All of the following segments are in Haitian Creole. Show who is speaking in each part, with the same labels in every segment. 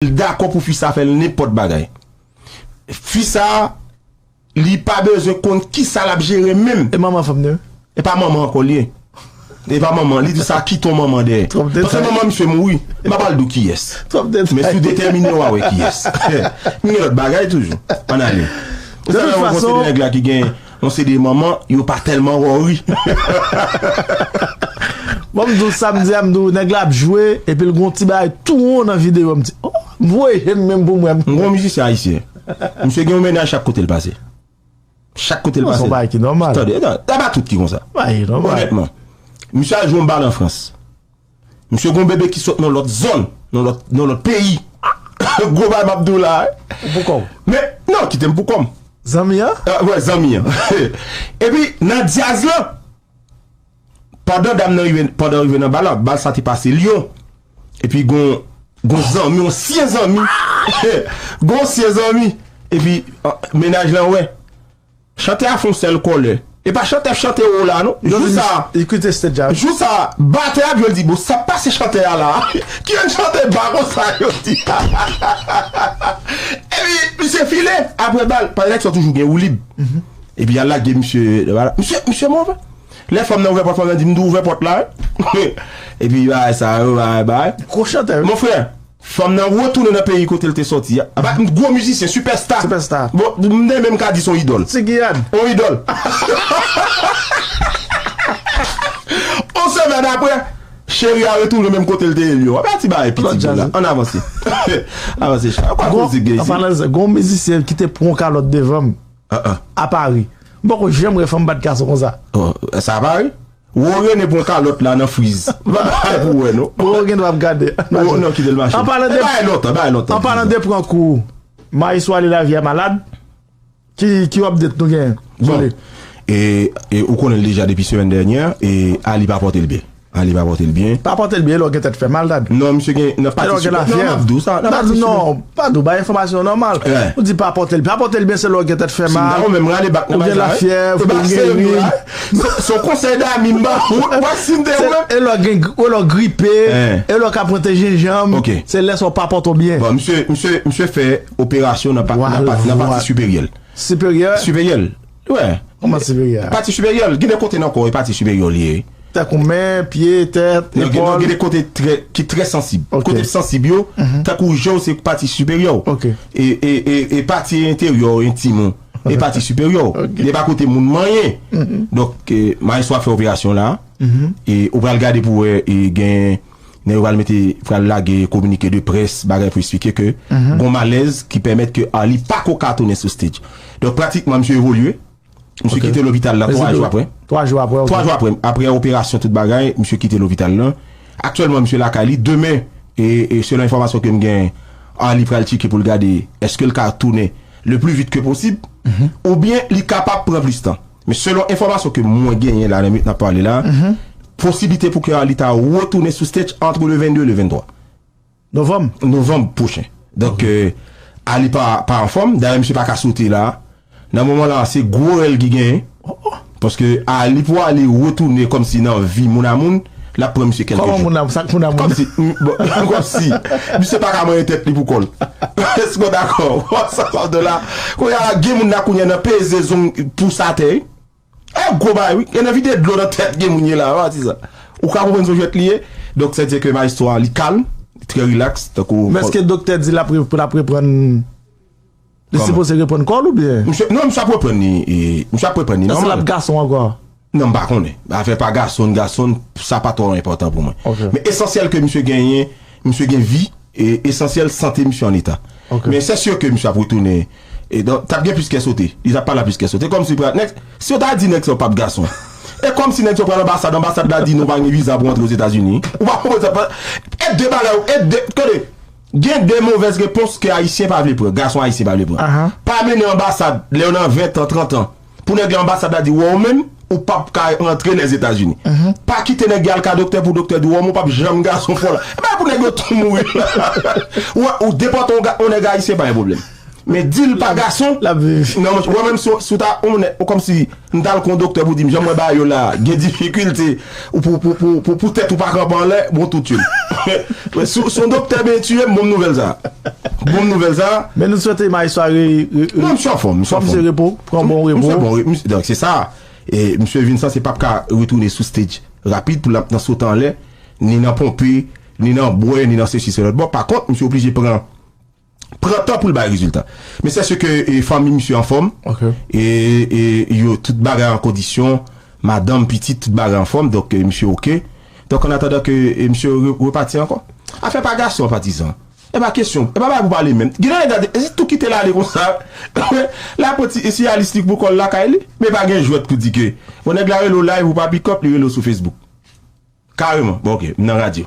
Speaker 1: L dakò pou fi sa fè l nenpòt bagay. Fi sa li pa bezwen konn ki sa l ap jere menm. E manman fanm nan?
Speaker 2: E pa manman ankò
Speaker 1: l ye. E pa manman. Li di sa kite yon manman dèyè. Twòp detay. Paske manman misye mouri. M pa pral di w kiyès. Twòp detay. Men si w detèmine w a wè kiyès. M gen lòt bagay toujou. Ann ale. Ou sanble yon gwo
Speaker 2: seri nèg la ki gen.
Speaker 1: Nou se 2 manman, yo pa tèlman worry.
Speaker 2: Bon m di w sa m di a m di w nèg la ap jwe epi l gen yon ti bagay tou won nan videyo m di oh m voye je m menm pou m wè. M gen yon mizisyen ayisyen
Speaker 1: misye gen yon mennaj chak kote l pase. Chak kote l pase. Bon se yon bagay ki nòmal. Tande, e
Speaker 2: pa tout ki
Speaker 1: konsa. Bagay ki nòmal. Onètman. Misye al jwe yon bal an Frans. Misye gon bebe ki sot nan lòt zòn, nan lòt peyi. Gwo bagay map diw la. Ou pou kòw? Men,
Speaker 2: non, kite
Speaker 1: m pou kòm. Zanmi an?
Speaker 2: Wè, zanmi an.
Speaker 1: Epi, nan dyaz lan, pandan dam nan rive, pandan rive nan bal la, bal sa te pase Lyon. Epi gon, gon zanmi, yon syen zanmi. Gon syen zanmi. Epi, mennaj lan wè. Chantè a fon sèl kòlè. E pa chantè ap chante wo la non. Jou sa a. Yo kite stage a wi. Jou
Speaker 2: sa a, batè
Speaker 1: a ap jwe l di bon sa pase chantè a la a. Ki yon chantè ba konsa yo di. Epi misye file aprè bal. Paske nèg sa yo toujou gen woulib. Epi y al lage misye nan bal la. Misye misye move. Lè fanm nan ouvè pòt fanm nan di m tou ouvè pòt la wi. Epi bagay sa yo bagay bagay. Gwo chantè wi. Mon frè.
Speaker 2: Fanm
Speaker 1: nan retounen nan peyi kote l te sòti a. Apa yon gwo mizisyen, sipèsta. Sipèsta. Bon, m te menm ka di se yon idòl. Ti Giyad. Yon idòl. Yon semèn apre, cheri a retounen menm kote l te ye l yo. Apa ti bagay piti boul la. Ann avanse. Avanse cha. Yon pa koze k gen isit. An
Speaker 2: palan de sa, gen yon mizisyen ki te pran kalòt devan m. A Pari. M poko janm wè fanm bat gason konsa. Sa a Pari?
Speaker 1: Roro rene pran kalot la nan friz. Bagay pou wè non. Roro gen dwa ap gade.
Speaker 2: Roro nan kitel mache. An
Speaker 1: palan de. Bay lontan
Speaker 2: bay lontan. An palan de pran kou. Mayi sou ale lavi a malad. Ki ki update nou gen. Bon. E
Speaker 1: e ou konnen deja depi semèn dènyè. E ali pa potel byen. Ali pa potel byen. Pa potel byen lò gen tèt
Speaker 2: fè mal dad. Non misye gen nan pati. Lò
Speaker 1: gen la fè. Dad non.
Speaker 2: Pa do bay enfomasyon nòmal. Ou di pa potel byen. Pa potel byen se lò gen tèt fè mal. Ou gen la fè. Ou gen
Speaker 1: la fè. Se yon konsèy dami m ba ou, m pa si m te ou menm.
Speaker 2: E lò gen, e lò gripe, e lò ka pran te jenjanm, se lè sa w pa pote w byen. Bon, misye, misye, misye
Speaker 1: fè operasyon nan pa, nan pa, nan pati siperyè l. Siperyè? Siperyè l, wè. Kouman siperyè a?
Speaker 2: Pati siperyè l, gen de kote
Speaker 1: nan kò e pati siperyè w li ye. Tankou men,
Speaker 2: pye, tèt, epòl. Non, non, gen de kote
Speaker 1: trè, ki trè sansib. Ok. Kote sansib yo, tankou je w se pati siperyè w. Ok. E, e, e, e pati enteryè w, entim ou. E pati siperyè w. Li pa koute moun manyen. Donk, mayestwo ap fè operasyon la. E ou pral gade pou wè e gen nèg yo pral mete, pral lage kominike de près, bagay pou esplike ke gon malèz ki pèmèt ke Arly pa ko ka tounen sou stage. Donk, pratikman misye evolye. Misye kite lopital la 3 jou aprè. 3 jou aprè, ok. 3 jou aprè.
Speaker 2: Aprè
Speaker 1: operasyon tout bagay, misye kite lopital la. Aktyèlman misye lakay li. Demen, e selon enfòmasyon ke m gen, Arly pral tcheke pou l gade eske l ka tounen. le plus vite que possible, ou byen li kapab pran plis tan. Men selon enfòmasyon ke mwen genyen la nan minit nap pale la, posiblite pou ke Arly ta retounen sou stage entre le 22 et le 23. Novanm? Novanm pwochen. Donk Arly pa pa anfòm, dayè misye pa ka sote la. Nan moman la se gwo rèl ki genyen. Paske a li pou ale retounen kòmsi nan vi moun a moun, l ap pran misye kèlke jou. Kòman moun a moun, sa k moun a moun? Kòmsi, bon, kòmsi, misye pa ka manyen tèt li pou kò l. Èske w dakò? Wap sa sa vle la? Kounye a la, gen moun la kounye a nan peze zong pous atè wi. E gwo bagay wi. Gen nan vide dlo nan tèt gen moun ye la, wap di sa. Ou ka konprann son jwèt li ye? Donk sè diè ke maestro a li kalm, li trè rilaks, tankou. Men èske doktè
Speaker 2: di l ap reprann? Li sipoze reprann kòl ou byen? Misye, non misye ap reprann li,
Speaker 1: misye ap reprann li nòmal. Èske lap gason ankò?
Speaker 2: Non m pa konnen.
Speaker 1: Afè pa gason, gason, sa pa twò enpòtan pou mwen. Ok. Men esansyèl ke misye genyen, misye gen vi, e esansyèl sante misye an eta. Ok. Men sè sir ke misye ap retounen, e don, tap gen plis kè sote. Li tap pale a plis kè sote. Kòmsi pra, nèg, si yo ta di nèg sa yo pap gason. E kòmsi nèg sa yo pral anbasad, anbasad la di non pa gen viza pou antre Ozetazini. Ou pa konprann sa pa, e de bagay ou, e de, tande. Gen de movèz repons ke ayisyen pa vle pran, gason ayisyen pa vle pran. Pa mennen anbasad lè w nan 20 tan, 30 tan, pou nèg la anbasad la di w ou menm ou pap ka rantre Lèzetazini. Pa kite nèg al ka doktè pou doktè di w ou menm ou pap janm gason fò la. Bagay pou nèg yo tou mouri la. Ou depòte yon nèg ayisyen pa gen pwoblèm. Men dil pa gason Lap viv. Nan manch
Speaker 2: wè menm si w
Speaker 1: si w ta on nèg ou kòmsi m t al kon doktè pou di m jan mwen ba yo la gen difikilte ou pou pou pou pou pou tèt ou pa kanpe anlè bon tou tyoul men si w si w doktè ben tiye m bon m nouvèl sa bon m nouvèl sa Men nou swete Maes sa
Speaker 2: re re re Non misye anfòm
Speaker 1: misye anfòm Kòmanse repo pran bon repo
Speaker 2: Misye bon wi misye donk se sa
Speaker 1: e misye vin sanse pap ka retounen sou stage rapid pou l ap nan sote anlè ni nan ponpe ni nan bwè ni nan sesi selòt bon pa kont misye oblije pran pran tan poul bay rezilta men sè seke fanmi misye anfòm e yo tout bagay an kondisyon madanm pitit tout bagay anfòm donk misye ok donk an atandan ke misye repati ankò afè pa gason patizan epa kesyon epa bagay pou pale menm gen nèg gade se tou kitel ale konsa lap pran ti siyalis li pou kòl lakay li men pa gen jwèt pou di ke bon nèg la rele w live ou pa pikòp li rele w sou facebook kareman bon ok m nan radyo.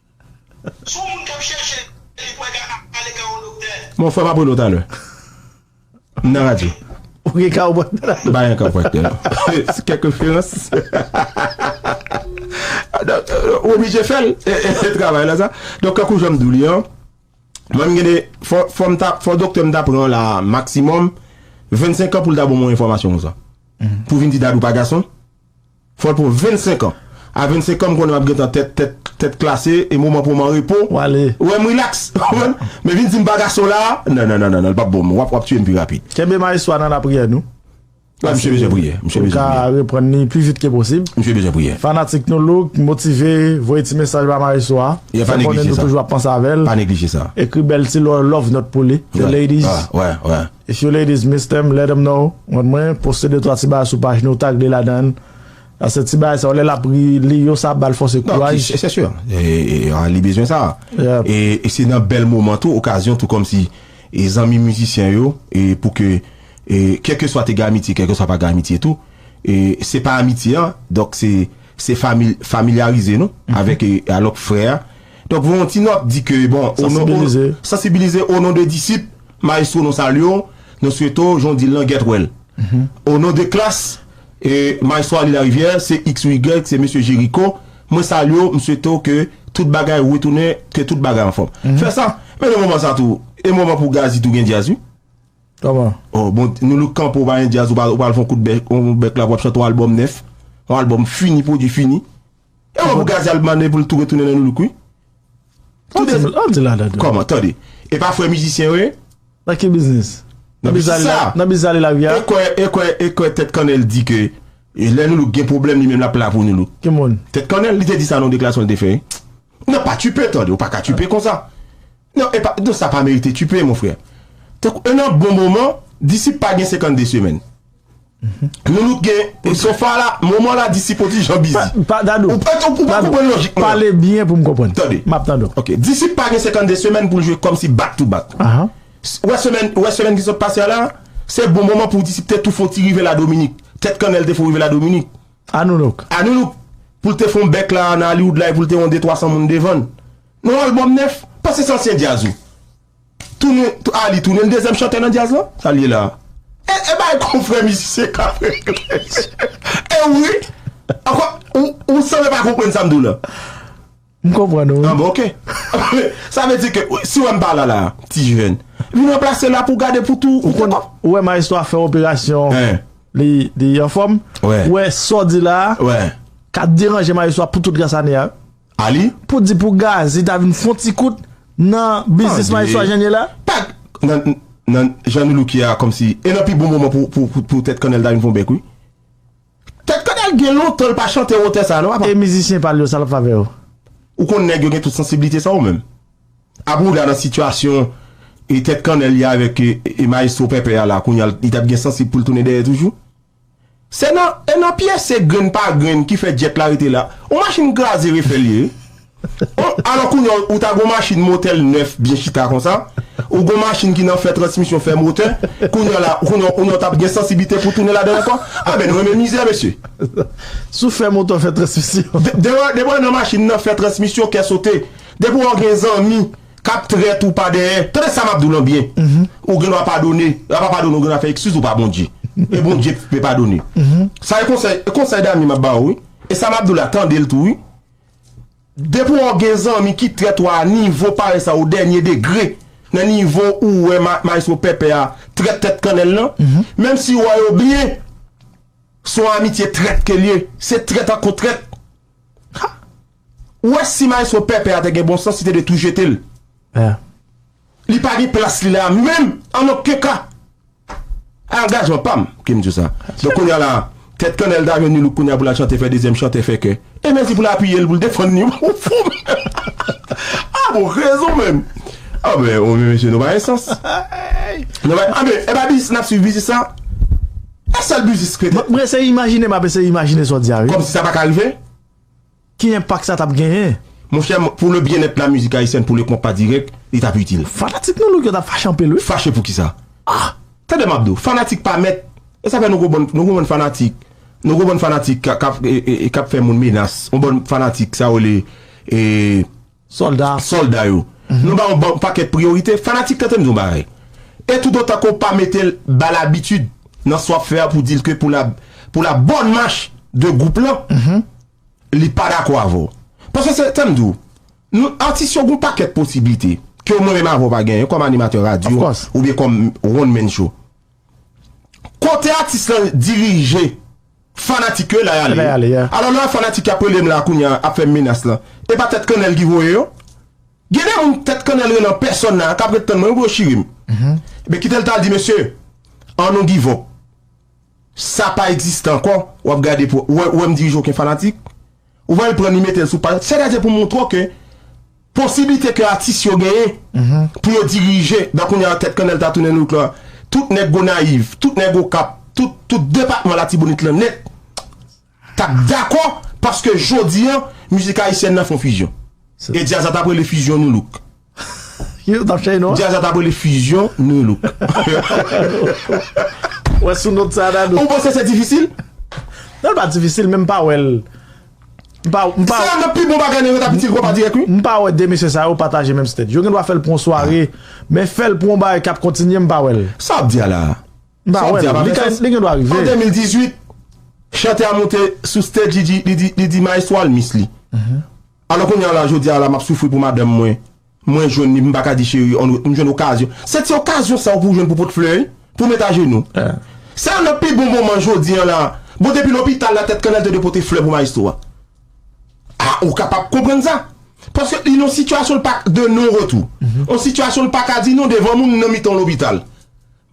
Speaker 3: Son moun kap chèche li pou ede ale ka yon doktè. Bon frèm apre nou talè.
Speaker 1: M nan radyo. Ou gen kawopraktè
Speaker 2: la tou. M pa gen kawopraktè
Speaker 1: non. Se kèk referans. Donk ou oblije fèl travay la sa. Donk tankou janm diw li an. Mwen m gen de fòm ta fò doktè m ta pran la maksimòm 25 an poul ta ban mwen enfòmasyon konsa. Pou vin di dad ou pa gason. Fòl pou 25 ans. A 25 ans m konnen map gentan tèt tèt tèt klase e moman pou m an repo Wale. ou wèm relax
Speaker 2: ou konprann
Speaker 1: men vin dim pa gason la nan nan nan l pap bon m wap wap tiyem pi rapid. Kenbe maestro a nan lapriyè
Speaker 2: nou. Wi misye bezwen
Speaker 1: priye, misye bezwen priye. Pou l ka reprann li pi vit ke posib.
Speaker 2: Misye bezwen priye. Fanatik
Speaker 1: nou look,
Speaker 2: motive, voye ti mesaj ba maestro a. Fè l konnen nou toujou
Speaker 1: ap panse avè l. Pa neglije
Speaker 2: sa. Ekri
Speaker 1: bèl ti
Speaker 2: love note pou li. The ladies. Wè wè.
Speaker 1: If you ladies
Speaker 2: miss them let em know want mwen poste de twa ti bagay sou paj nou tag li ladann paske ti bagay sa yo lè lap li yo sa ap bal fòse kouraj Non c'est sûr
Speaker 1: li bezwen sa e se
Speaker 2: nan bèl
Speaker 1: moman tou okazyon tou kòmsi e zanmi mizisyen yo e pou ke e kèlkeswa te gen amitye kèlkeswa pa gen amitye tou e se pa amitye an donk se se fami familyarize nou avèk e alòk frè donk voye yon ti nòt di ke bon sansibilize sansibilize onon de disip Maestro nou salye w nou swete w jan w di l lan gèt wè l O non de Klass e Maestro Arly Larivière se X ou Y se Mesye Jericho mwen salye w m swete w ke tout bagay retounen ke tout bagay anfòm fè sa men nan moman sa tou e moman pou Gazzy tou gen djazz wi Kòman?
Speaker 2: O bon Nou
Speaker 1: Look kanpe w pa gen djazz ou pral fon kout bèk yon bèk la pou w ap chante yon albòm nèf yon albòm fini pwodui fini. E wè pou Gazzy al mande pou l tou retounen nan Nu Look wi. Tout de An di la dada. Kòman? Tande. E pa frè mizisyen yo ye? Nan ki biznis?
Speaker 2: Nan biznis sa a. Nan biznis Alila Vya a? E kwè, e kwè, e kwè
Speaker 1: Tèt Kannèl di ke lè Nu Look gen pwoblèm li menm l ap la pou Nu Look. Ki moun? Tèt Kannèl.
Speaker 2: Li te di sa nan
Speaker 1: yon deklarasyon li te fè wi. Nan pa tchipe tande, ou pa ka tchipe konsa. Nan e pa, nan sa pa merite tchipe mon frè. Tankou e nan bon moman, Disip pa gen 52 semèn. Loulout gen sofa la moman la di sip odi jan bizi Dadou pale byen pou m
Speaker 2: konprann map tande w ok
Speaker 1: di sip
Speaker 2: pa
Speaker 1: gen 52 semèn pou l jwe kòm si back to back ou wè semèn ou wè semèn ki sot pase a la se bon moman pou di sip te tou fon ti rive la dominik tèt kannèl te fon rive la dominik a nou louk a
Speaker 2: nou louk pou
Speaker 1: l te fon bèk la nan aliwoud la e pou l te yon de twa san moun devan l nan albòm nèf pase se ansyen djaz ou. Tounen a li tounen dezyèm chantè nan djaz lan? Sa l ye la a? E bay konfrè mizisyen kap regle e wi ankò ou sanble pa konprann sa m di w lan. M
Speaker 2: konprann ou wi. Anben ok.
Speaker 1: Sa vle di ke si w wè m pa la la a, ti jivèn, vin ranplase la pou w gade pou tou. Ou konn ou wè maestro a
Speaker 2: fè operasyon li anfòm, ou wè sa w di la a ka
Speaker 1: deranje
Speaker 2: maestro a pou tout rès ane a wi. Ali, Pou di
Speaker 1: pou Gazy
Speaker 2: ta vin fon ti kout nan biznis Maestro a Janie la? Pat nan
Speaker 1: nan jan nou looke a kòmsi e nan pi bon moman pou pou pou tèt kannèl ta vin fon bèk wi. Tèt kannèl gen lontan l pa chante wotè sa non apa. E mizisyen pa l yo sa l
Speaker 2: ap fè avè yo? Ou konn nèg
Speaker 1: yo gen tout sansiblite sa ou menm? Apa ou la nan sitiyasyon e tèt kannèl ye avèk e maestro pèpè a la kounya li t ap gen sansib pou l tounen dèyè toujou? Se nan e nan pyese grenn pa grenn ki fè jet la rete la. On machin kraze refè l ye. On alò kounya ou ta gon machin motè l nèf byen chita konsa, ou gon machin ki nan fè transmisyon fè motè, kounya la kounya kounya ou tap gen sansiblite pou tounen ladan l ankò? Anben nou renmen mizè mesye. Sou fè
Speaker 2: motè w fè transmisyon. Depi w al nan
Speaker 1: machin nan fè transmisyon kè sote. Depi w gen zanmi. Kap trèt ou pa dèyè. Tande sa map diw lan byen ou gen dwa padone la pa padone ou gen dwa fè ekskiz ou pa Bondye e Bondye k pe padone sa e konsèy e konsèy dami map baw wi e sa map diw la tandel tou wi depi wè ou gen zanmi ki trèt ou a nivo parèy sa ou dènye degre nan nivo ou wè ma maestro pèpè a trèt tèt kannèl lan menm si ou wè yo byen son amitye trèt ke liye se trèt ak kon trèt. Ou wè si maestro pèpè a te gen bon sans li te dwe tou jete l. Li pa gen plas li la a menm an oken ka. Angajman pa m ki m di w sa. Donk kounye a la a, tèt kannèl ta jwenn ni louk kounye a pou l al chante fè dezyèm chantè fè kè. E mèsi pou l apiye l pou l defann li. Ou fou menm. A bon rezon menm. A men ou menm mesye nou pa gen sans. Nou pa gen a men e pa biznis n ap swiv biznis sa? E sèl biznis k rete. M ap eseye imajine m ap
Speaker 2: eseye imajine sa w di a wi. Kòmsi sa pa ka rive?
Speaker 1: Ki
Speaker 2: enpak sa tap genyen? Monchè, pou le
Speaker 1: byennèt la mizik ayisyèn, pou le konpa dirèk, li tap itil. Fanatik Nou Look yo tap fache
Speaker 2: anpil wi. Fache pou kisa?
Speaker 1: Ah! Tande map di w, fanatik pa mèt. E sa fè nou gwo bann, nou gwo bann fanatik, nou gwo bann fanatik kap, kap fè moun menas. Yon bann fanatik sa yo rele, ee. Sòlda, sòlda yo. Nou ba yon pakèt priyorite. Fanatik tante m di yon bagay. E toutotan ke w pa mete l ba l abitid nan sa w ap fè a pou di l ke pou la pou la bonne marche de gwoup lan, li pa dakò avè w. Paske se, tande m di w, nou atis yo gen yon pakèt posiblite ke mwen menm avè w pa genyen kòm animatè radyo oubyen kòm one man show. Kote atis lan dirije fanatik yo e la yale ye. Alò lè fanatik yap relem la kounye a ap fèm menas lan e pa tèt kannèl ki voye yo? Gen de moun tèt kannèl rele an pèsòn la kap ret tann mwen wi bro chiri m. Ebyen kitel tal di mesye an nou give up sa pa egziste ankò wap gade pou wè ou wèm dirije oken fanatik. Ou va al pran li mete l sou paj la. Sètadi pou montre w ke posiblite ke atis yo genyen pou yo dirije, dan kounye a tèt kannèl ta tounen look la, tout nèg Gonayiv, tout nèg Okap, tout, tout depatman Latibonit lan nèt t ap dakò paske jodi an mizik ayisyèn nan fon fizyon. E djaz la t ap rele fizyon nu look.
Speaker 2: Djaz la t ap rele Fusion
Speaker 1: Nu Look.
Speaker 2: Ou panse se difisil?
Speaker 1: Non l pa
Speaker 2: difisil men m pa wè l.
Speaker 1: Sa yon nan pi bon bagay nèg yo ta pitil konpa dirèk wi. M pa wè 2 mesye sa yo
Speaker 2: pataje menm stage. Yo gen dwa fè l pou yon sware men fè l pou yon bagay k ap kontinye m pa wè l. Sa w ap di a la?
Speaker 1: M pa wè l.
Speaker 2: Li gen dwa rive. An 2018,
Speaker 1: chantè a monte sou stage li di maestro a l miss li. Alò kounye a la, jodi a la m'ap soufri pou madanm mwen, mwen jwenn li, m pa ka di cheri on m jwenn okazyon. Se ti okazyon sa yo pou w jwenn pou w pot flè, pou w met ajenou. Se youn nan pi bon moman jodi a la. Bon depi lopital la tèt kannèl te dwe pote flè pou maestro a. A ou kapab konprann sa. Paske li nan yon sitiyasyon l pa de non retou. Yon sitiyasyon l pa ka di non devan moun nan mitan yon lopital.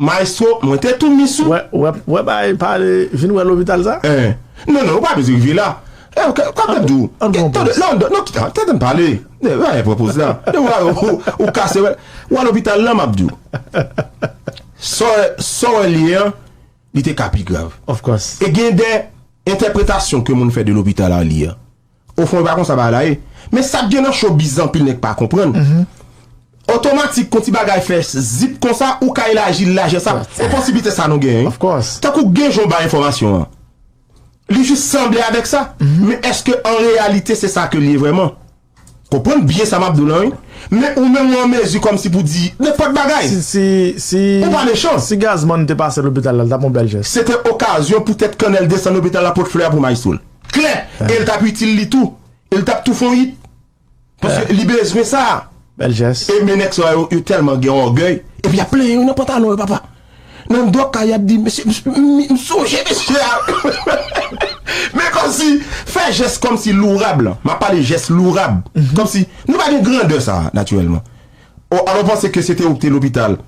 Speaker 1: Maestro mwen te tou miss ou. Wè bagay
Speaker 2: pale vin wè lopital sa. Hein non non ou pa
Speaker 1: bezwen rive la Hein kap tap diw An pran poz Non non non kite tande m pale Bagay pran poz la Ou kase wè Ou al lopital lan map diw Sa sa w wè li ye an Li te ka pi grav Of course E gen
Speaker 2: de
Speaker 1: Entèpretasyon ke moun fè de lopital Arly an. O fon e pa konsa bagay la ye. Men sak gen nan showbiz la anpil nèg pa konprann. Otomatik kon ti bagay fè zip konsa ou ka elaji lajè sa. E posibilite sa nou genyen wi. Tankou gen
Speaker 2: jan w bay
Speaker 1: enfòmasyon an. Li jis sanble avèk sa. Men eske an reyalite se sa ke li ye vrèman. Konprann byen sa map di w lan wi. Men ou menm ou an mezi kòmsi pou di nenpòt bagay. Ou pa mechan.
Speaker 2: Si
Speaker 1: Gazman te pase
Speaker 2: lopital la li tap yon bèl jès. Se te okazyon poutèt
Speaker 1: Kannèl desann lopital la pot flè a pou Maestro l. Klè, e l t ap itil li tou. E l t ap tou fè yon it. Paske li bezwen sa. Bèl jès. E
Speaker 2: men nèg sa yo, yo
Speaker 1: tèlman gen ògèy. Epi y ap plenyen yo nan pantalon yo papa. Nan dòk kay y ap di, mesye, m sonje mesye a. Men kòmsi, fè jès kòmsi lourab lan. M ap pale jès lourab. Kòmsi, nou pa gen grandè sa a, natirèlman. O, alò w panse ke se te ou ki te lopital.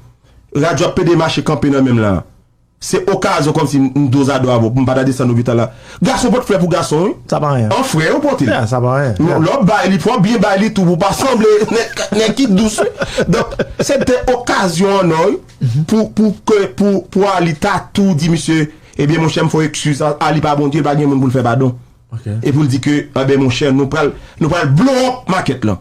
Speaker 1: Radyo ap pede mache kanpe nan men m la a. Se okazyon kòmsi m dozado avè w pou m pataje san lopital la. Gason pot flè pou gason wi. Sa pa anyen. An frè yo
Speaker 2: pote l.
Speaker 1: Sa pa anyen. Lè w
Speaker 2: ap bay li fò w byen
Speaker 1: bay li tou pou w pa sanble nèg ki dous wi. Donk se te okazyon an ò wi pou pou ke pou pou Arly ta tou di misye ebyen monchè m fè w ekskiz Arly pa Bondye l pa gen moun pou l fè padon. Ok. E pou l di ke anben monchè nou pral nou pral blow up market lan.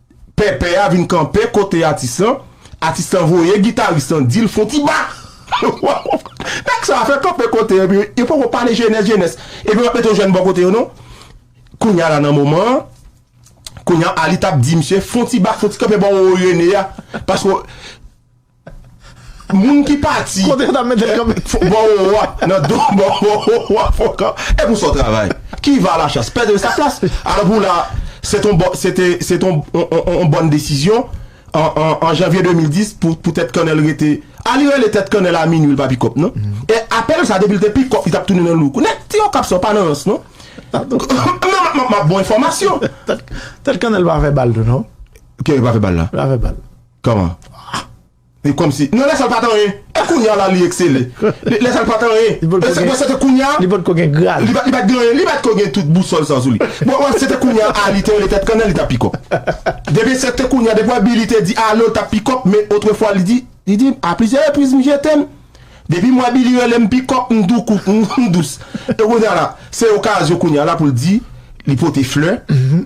Speaker 1: Pèpè a vin kanpe kote atis lan, atis lan voye gitaris lan di l fon ti ba! Nèg sa a fè kanpe kote yo epi yo poko pale jenès jenès epi yo pa t mete yon jèn bò kote yo non. Kounye a la nan moman an, kounye a Aly t ap di misye fon ti ba, fon ti kanpe bò Rene a paske Moun ki pati. Kote yo ta mete l kanpe.
Speaker 2: Bò wo a, nan do bò wo
Speaker 1: a fò kan. E pou sa w travay? Qui va à la chasse perd sa plas. Alò pou la, se ton bò, se te, se ton on bòn desizyon an, an, an janvye 2010 pou, pou tèt kannèl rete. A li rele tèt kannèl a minui l pa pi kòp non. E apèl sa depi l te pi kòp li t ap tounen nan lou kou. Nèg ti Okap sa yo pa nan rans non. M ap ba w enfòmasyon. Tèt kannèl
Speaker 2: pa fè bal tou non. Kiyè ki pa fè bal
Speaker 1: la? Pa fè bal. Kòman? Ah! E kòmsi. Non lè sa l pa t anyen. E kounye a la li eksele. Lè sa l pa t anyen. Li potko gen. Se te kounye a. Li potko gen grad.
Speaker 2: Li pa t gen anyen. Li pa t ko
Speaker 1: gen tout bousòl sa sou li. Bon wè se te kounye a a li te rele tèt kannè li t ap pi kòk. Depi se te kounye a depi wè bi li te di alo l t ap pi kòk men otrefwa li di li di a plizyè repriz m jete m. Depi m wè bi li rele m pi kòk m tou kouk m dous. E kounye a la se okazyon kounye a la pou l di li pote flè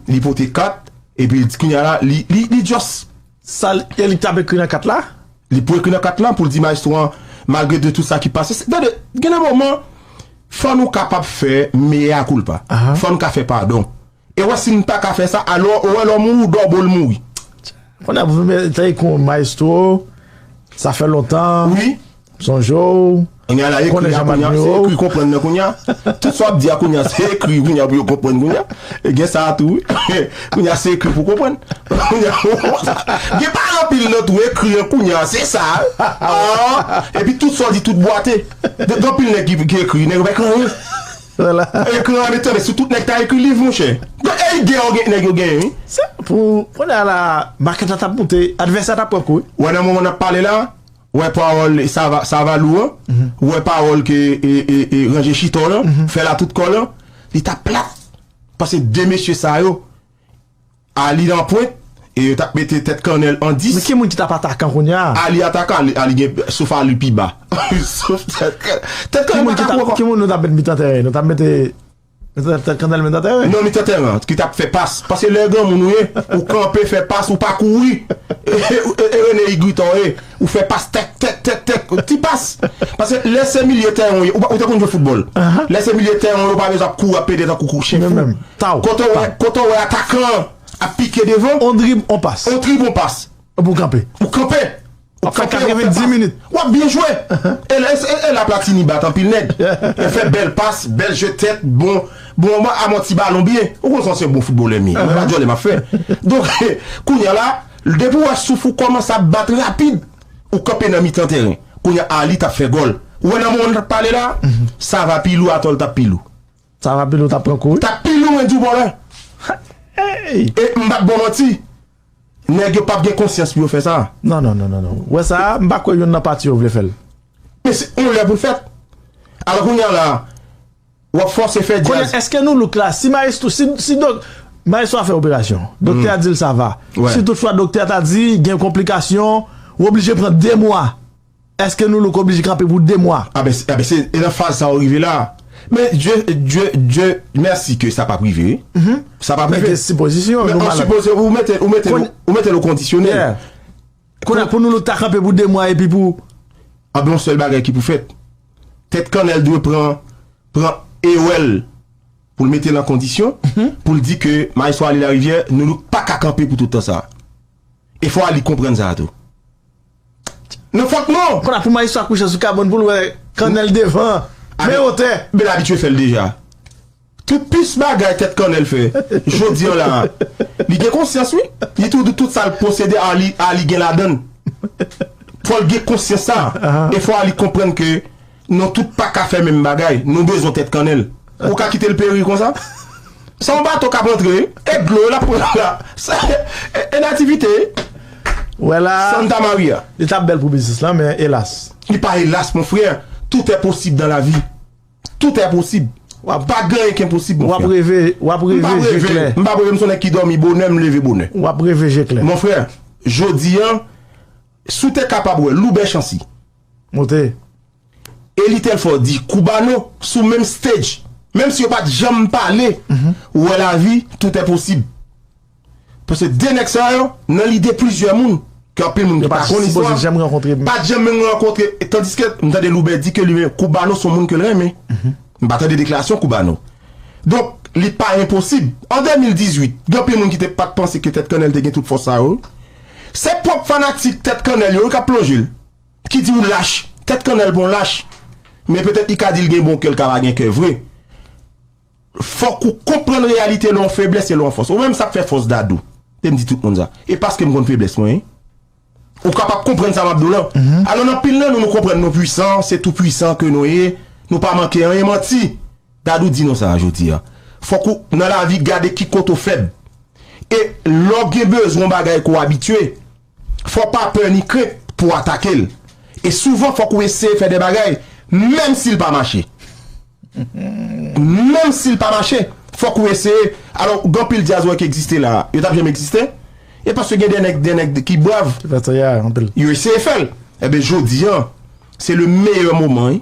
Speaker 1: li pote kat. Epi li di kounya la li li just sa ke
Speaker 2: li tap ekri nan kat la li pou ekri nan kat
Speaker 1: la poul di maestro an malgre de tout sa ki pase se gade gen de moman fò nou kapab fè mea culpa fò nou ka fè padon e wè si nou pa ka fè sa alò ou wè lè w mouri w dò bo l mouri. Konnya pou
Speaker 2: fè mea culpa maestro sa fè lontan wi. Sonje
Speaker 1: w,
Speaker 2: konnen jan map
Speaker 1: jwe w. Ekri konprann nan kounya. Tout sa w ap di a kounya se ekri kounya pou yo konprann kounya. E gen sa a tou wi. Kounya se ekri pou konprann. Gen pa anpil nan tou ekri an kounya se sa a. Epi tout sa w di tout bwate. Gen anpil nèg ki ekri, nèg yo pa ekri anyen. Ekri an etan de si tout nèg ta ekri liv monchè. Gen ide yo gen nèg yo genyen wi. Sa pou
Speaker 2: kounya la makèt la tap moute, advèsè a tap pran kou wi. Wè nan moman nap pale
Speaker 1: la. Ou wè pawòl Savalou an? Ou wè pawòl ke ranje chita w lan fè la tout kò l an? Li t ap plat! Pase de mesye sa yo Ali nan pwent e yo t ap mete tèt kannèl an dis. Men ki moun ki t ap atakan
Speaker 2: kounye a? Ali atakan, Ali
Speaker 1: gen, sof Ali pi ba. Sof tèt kannèl. Tèt kannèl pa ka kou ankò. Ki moun nou t ap met
Speaker 2: mitan tèren? Nou t ap mete. Nan mitan tèren an ki t ap
Speaker 1: fè pas. Paske lè granmoun ou ye, ou kanpe fè pas, ou pa kouri. E René Higuita w ye, ou fè pas tèk, tèk, tèk, tèk. Ti pas. Paske lè se milye tèren w ye, ou te konn jwe foutbòl. Lè se milye tèren w ye, ou pa bezwen ap kouri, ap pede tankou kou chen fou. Kote w wè atakan an ap pike devan. On drib, on pas. On
Speaker 2: trib, on pas. Epi ou kanpe. Ou kanpe! Ou kanpe, ou fè 90 minit. W ap byen jwe!
Speaker 1: E la Platini bat anpil nèg. Li fè bèl pas, bèl jwèt tèt, bon, bon ba a manti balon byen. Ou konn sa m se yon bon foutbolè m ye. Mwen pa djòlè m ap fè. Donk, kounye a la, depi ou wè souf ou kòmanse ap bat rapid, ou kanpe nan mitan tèren. Kounye a Aly t ap fè gòl. Ou wè nan moman nou t ap pale la a, Sava pi lou atò l t ap pi lou. Sava pi lou t ap
Speaker 2: pran kou wi. T ap pi lou mwen di w bòlè.
Speaker 1: E m p ap bon manti. Nèg yo pap gen konsyans pou yo fè sa. Non non non non ou
Speaker 2: wè sa a m pa kwè youn nan pati yo vle fè l. Men se yon
Speaker 1: lè pou l fèt. Alò kounye a la a w ap fòse fè djaz. Kounye a èske nou look la si
Speaker 2: maestro si dok maestro a fè operasyon doktè a di l sa va si tout fwa doktè a ta di gen konplikasyon ou oblije pran 2 mwa. Eske nou look oblije kanpe pou 2 mwa? A ben a ben se nan
Speaker 1: faz sa ou rive la. Men Dye Dye Dye mèsi ke sa pap rive wi. Sa pap rive. Mete sipozisyon nou malad. Mete
Speaker 2: sipozisyon ou
Speaker 1: mete ou mete ou mete l o kondisyonèl. Yeah. Kounye a
Speaker 2: pou nou look ta kanpe pou 2 mwa epi pou. A ben yon sèl
Speaker 1: bagay ki pou fèt. Tèt kannèl dwe pran pran ewèl pou l mete l an kondisyon pou l di ke Maestro Ali Lariviere nou look paka kanpe pou tout tan sa. E fò Ali konprann sa a tou. Nan fòk non. Konn a pou maestro ak pouchans ou
Speaker 2: ka bon poul wè kannèl devan men yo tè. Bel abitye fèl deja.
Speaker 1: Tout pis bagay tèt kannèl fè Jodi an la a Li gen konsyans wi Li tou di tout sal posede Arly Arly gen ladann Fòl gen konsyans sa E fò Arly konprann ke Non tout paka fè menm bagay, nou bezwen tèt kannèl. Ou ka kitel peri konsa? Se yon bato kap antre e dlo lap pran la sa e nativite. Wè
Speaker 2: la a, Santa Maria.
Speaker 1: Li tap bèl pou biznis lan
Speaker 2: men elas. Li pa elas mon
Speaker 1: frère, tout est possible dans la vie. Tout est possible. Pa gen anyen ki enposib mon frère. Wap reve, wap
Speaker 2: reve je klè. M pap reve, m son nèg ki dòmi
Speaker 1: bonè, m leve bonè. Wap reve je klè. Mon
Speaker 2: frère,
Speaker 1: jodi an, si w te kapab wè Loubè Chancy. Monte. Elie Telfort di Cubano sou menm stage menm si yo pat janm pale ou wè lavi tout è posib paske 2 nèg sa yo nan lide plizyè moun ke anpil moun ki pa konn istwa pat janm
Speaker 2: menm rankontre
Speaker 1: tandiske m tande Loubè di ke li menm Cubano son moun ke l renmen m pa tande deklarasyon Cubano donk li pa enposib an 2018 gen anpil moun ki te pat panse ke Tèt Kannèl te gen tout fòs sa yo se pwòp fanatik Tèt Kannèl yo wi k ap plonje l. Ki di ou lach. Tèt kannèl pou yon lach. Men petèt li ka di l gen bon kè l ka pa gen kè vre. Fòk ou konprann reyalite lè w feblès e lè w fòs. Ou menm sa k fè fòs Dadou. Te m di tout moun sa. E paske m konn feblès mwen wi. Ou kapab konprann sa m ap di w lan. Alò nan anpil nan nou nou konprann nou pwisan, se tou pwisan ke nou ye, nou pa manke anyen. Manti! Dadou di nou sa jodi a. Fòk ou nan lavi gade ki kote ou fèb. E lè w gen bezwen yon bagay ke w abitye, Fò w pa pè ni krent pou w atake l. E souvan fòk ou eseye fè de bagay menm si l pa mache. Menm si l pa mache, fòk ou eseye. Alò, gen anpil dyazwè ki egziste la a, yo t ap janm egziste? E paske gen de nèg, de nèg ki brav, yo eseye fè l. Enben, jodi an, se le meyè moman wi.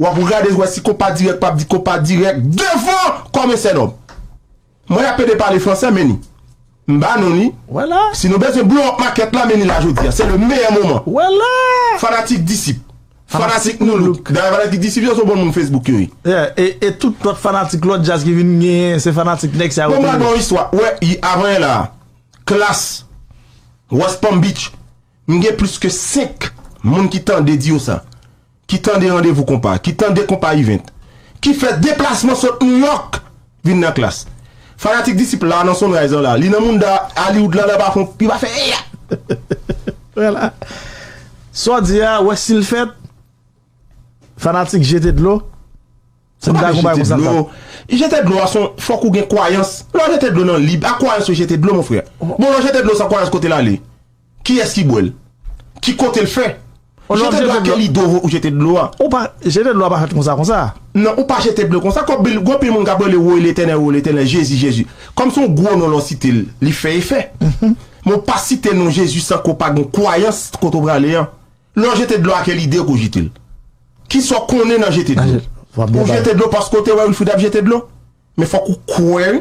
Speaker 1: Wap rgade wè si konpa dirèk pap di konpa dirèk devan kòmè sènòm. Mwen ap pede pale fransè men ni. M ba nou li. Wè la. Si nou
Speaker 2: bezwen blow up
Speaker 1: makèt la men ni la jodi a. Se le meyè moman. Wè la.
Speaker 2: Fanatik
Speaker 1: disip. Fanatik nu look. Dayè fanatik disip yo se bon moun Facebook yo ye. Yeah. E tout
Speaker 2: lòt fanatik lòt djaz ki vin genyen se fanatik nèg sa yo tou ye. Bon m pral ba w istwa. Wè
Speaker 1: avan yè la a. Klass. West Palm Beach. M gen plis ke 5 moun ki tande di yo sa. ki tande randevou konpa, ki tande konpa ivent, ki fè deplasman sot Nouyòk vin nan klas. Fanatik Disip la nan Sunrise lan la, li nan mounda Hollywood lan, li pa fon, li pa fè eyat! Wè
Speaker 2: la! Sa w di a, wè si l fèt? Fanatik jete dlo. Sa pa vle jete dlo, jete dlo
Speaker 1: a son fòk ou gen kwayans, lè wap jete dlo nan lib ak kwayans ou jete dlo mon frè, bon lè w jete dlo san kwayans kote l ale, kiyès ki bwè l, ki kote l fè, jete dlo a kèl ide ou jete dlo a. Ou pa, jete dlo
Speaker 2: a pa fèt konsa konsa. Non ou pa jete dlo
Speaker 1: konsa, kòm gen anpil moun kap rele woy letènèl woy letènèl jezi jezi, kòm son gwo non lè w site l li fè efè, men w pa site non jezi san ke w pa gen kwayans kote w prale an. Lè w jete dlo a kel ide ou pou jete l? Kisa w konnen nan jete dlo? Ou jete dlo paske w te wè Wilfrid ap jete dlo? Men fòk ou kwè wi.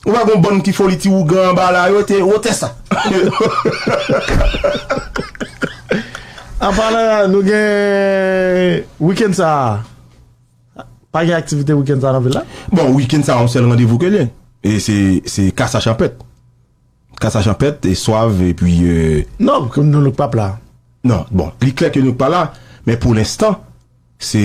Speaker 1: Ou wè gon bann ti foli ti ougan anba la yo te wotè sa.
Speaker 2: Anpalan nou gen wikenn sa a, pa gen aktivite wikenn sa a nan vil la? Bon wikenn sa a yon sèl
Speaker 1: randevou ke l ye. E se kasa chanpèt. Ka sa chanpèt, swav epi. Non, nou nou k pap
Speaker 2: la. Non, bon, li
Speaker 1: klè ke nou k pa la, men pou lenstan, se.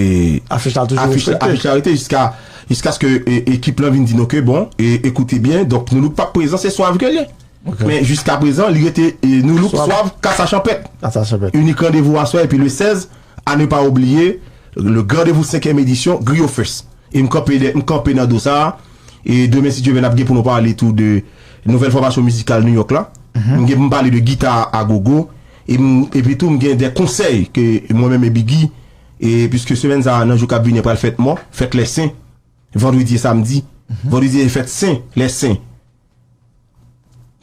Speaker 1: Afich la toujou respekte. Afich la rete jiska, jiskaske ekip lan vin di nou ke bon, ekoute byen, donk nou nou k pap prezan, se swav ke li. Ok. Men jiska prezan, li rete nou nou k swav, ka sa chanpèt. Ka sa chanpèt. Inik randevou aswè epi le 16, a ne pa oubliye, le grandevou 5 èm edisyon, Griyo Fest. E m kanpe dè, m kanpe nan do sa a. E demen si Dye vle n ap gen pou nou pale tou de nouvèl fòmasyon mizikal New York la. M gen pou m pale de gita a gogo. E m epi tou m gen de konsèy ke mwen menm e Biggy e puiske semèn sa a nan jou k ap vini an pral fèt mò, fèt lè sen, vandredi e samdi. Vandredi se fèt sen, lè sen.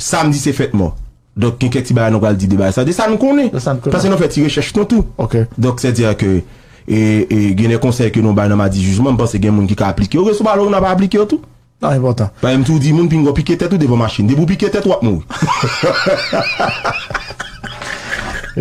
Speaker 1: Samdi se fèt mò. Donk gen kèk ti bagay nou pral di de bagay sa. De sa nou konnen. De sa nou konnen. Paske nou fè ti rechèch nou tou. Ok. Donk sè di a ke gen de konsèy ke nou bay nan Madi Jijman, m panse gen moun ki ka aplike yo. Reso pale ou nan pa aplike yo tou. Sa enpòtan. Pa
Speaker 2: m toujou di
Speaker 1: moun pinga ou pike tèt ou devan machin. Depi ou pike tèt ou ap
Speaker 2: mouri.